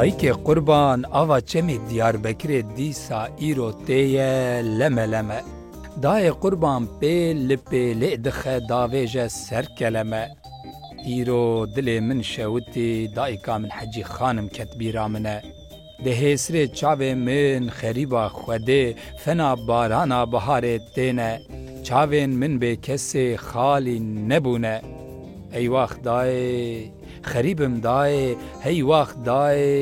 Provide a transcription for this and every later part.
Dayikê Qurban ava çemê Diyarbekirê dîsa îro tê ye leme leme. Dayê Qurban pê li pêlê dixe davêje ser keleme. Îro dilê min şewitî dayika min Hecî Xanim ket bîra min e. Di hêsrê çavê min xerîba Xwedê fena barana biharê têne. Çavên min bêkesê xalî nebûne. Ey waxt dayê xerîbim dayê hey waxt dayê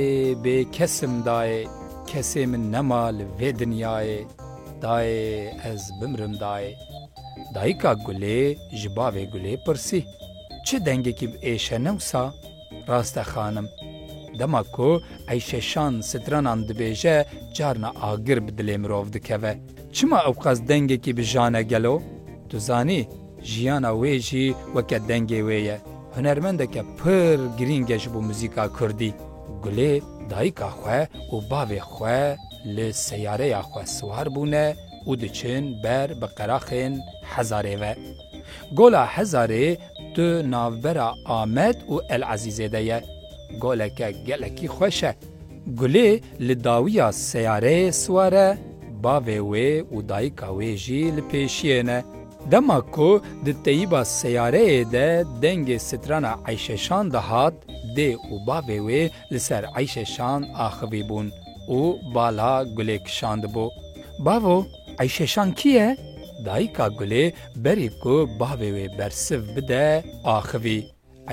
bêkesim dayê. Kesê min nema li vê dinyayê. Dayê ez bimrim dayê. Dayika Gulê ji bavê Gulê pirsî, Çi dengekî bi êş e newsa? Rast e xanim. Dema ku eyşeşan stranan dibêje carna agir bi dilê mirov dikeve. Çima ewqas dengekî bi jan e gelo? Tu zanî, jiyana wê jî weke dengê wê ye. Hunermendeke pir girîng e ji bo muzîka kurdî. Gulê dayika xwe û bavê xwe li seyareya xwe siwar bûne, û diçin ber bi qeraxên Hezarê ve. Gola Hezarê di navbera Amed û El Ezîzê de ye. Goleke gelekî xweş e. Gulê li dawiya seyareyê siwar e, bavê wê û dayika wê jî li pêşiyê ne. Dema ku di teyiba seyareyê de dengê strana Eyşeşan dihat, dê û bavê wê li ser eyşê şan axivîbûn û bala Gulê kişandibû. Bavo, eyşê şan kî ye? Dayika Gulê berî ku bavê wê bersiv bide axivî.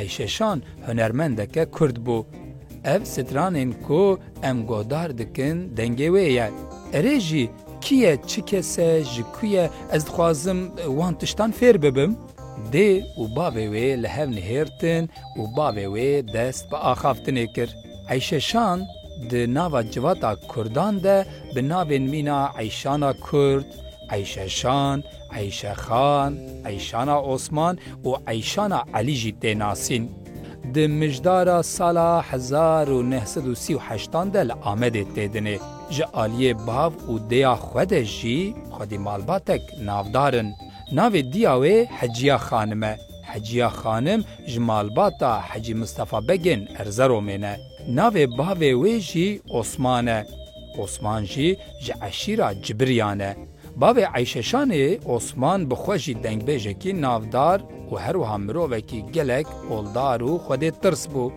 Eyşê şan hunermendeke kurd bû. Ev stranên ku em godar dikin dengê wê ye. Erê jî, kî ye, çi kes e, ji ku ye, ez dixwazim wan tiştan fêr bibim. Dê û bavê wê li hev nihêrtin û bavê wê dest bi axaftinê kir. Eyşeşan di nava civata kurdan de bi navên mîna Eyşana Kurd, Eyşeşan, Eyşexan, Eyşana Osman û Eyşana Elî jî tê nasîn. Di mijdara sala hezar û neh sed û sî û heştan de li Amedê tê dinê. Ji aliyê bav û dêya xwe de jî xwedî malbatek navdar in. Navê diya wê Heciya Xanim e. Heciya Xanim ji malbata Hecî Mistefa Begên Erzeromê ne. Navê bavê wê jî Osman e. Osman jî ji eşîra Cibiriyan e. Bavê Eyşeşanê Osman bi xwe jî dengbêjekî navdar û her wiha mirovekî gelek oldar û xwedê tirs bû.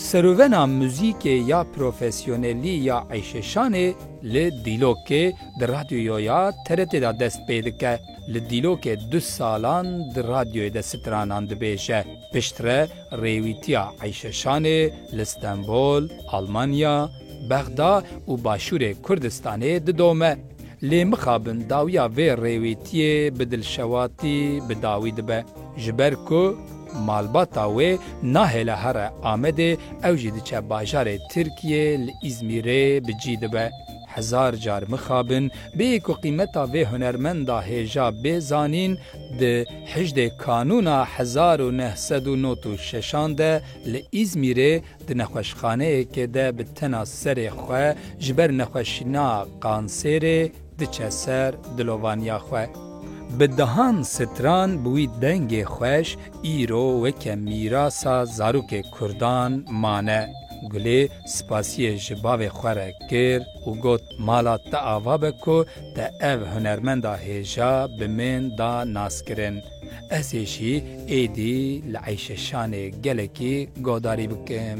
Serûvena muzîkê ya profesyonelî ya Eyşeşanê li Dîlokê di radyoya ya TRT'ê de dest pê dike, li dîlokê du salan di radyoyê de stranan dibêje. Piştre rêwîtiya Eyşe Şanê li Stenbol, Almanya, Bexda û başûrê Kurdistanê didome. Lê mixabin dawiya vê rêwîtiyê bi dilşewatî bi dawî dibe. Ji ber ku malbata wê nahêle here Amedê ew jî diçe bajarê Tirkiyê li Îzmîrê bi cî dibe. Hezar car mixabin bê ku qîmeta vê hunermenda hêja bê zanîn, di hijdê Kanûna hezar û neh sed û not û şeşan de li Îzmîrê di nexweşxaneyekê de bi tena serê xwe ji ber nexweşîna qansêrê diçe ser dilovaniya xwe. Bi dehan stran bi wî dengê xweş îro weke mîrasa zarokê Kurdan mane. Gulê Spasiyê ji bavê xwe re kir û got, Mala te ava be ku te ev hunermenda hêja bi min da naskirin. Ez ê jî êdî li Eyşeşanê gelekî godarî bikim.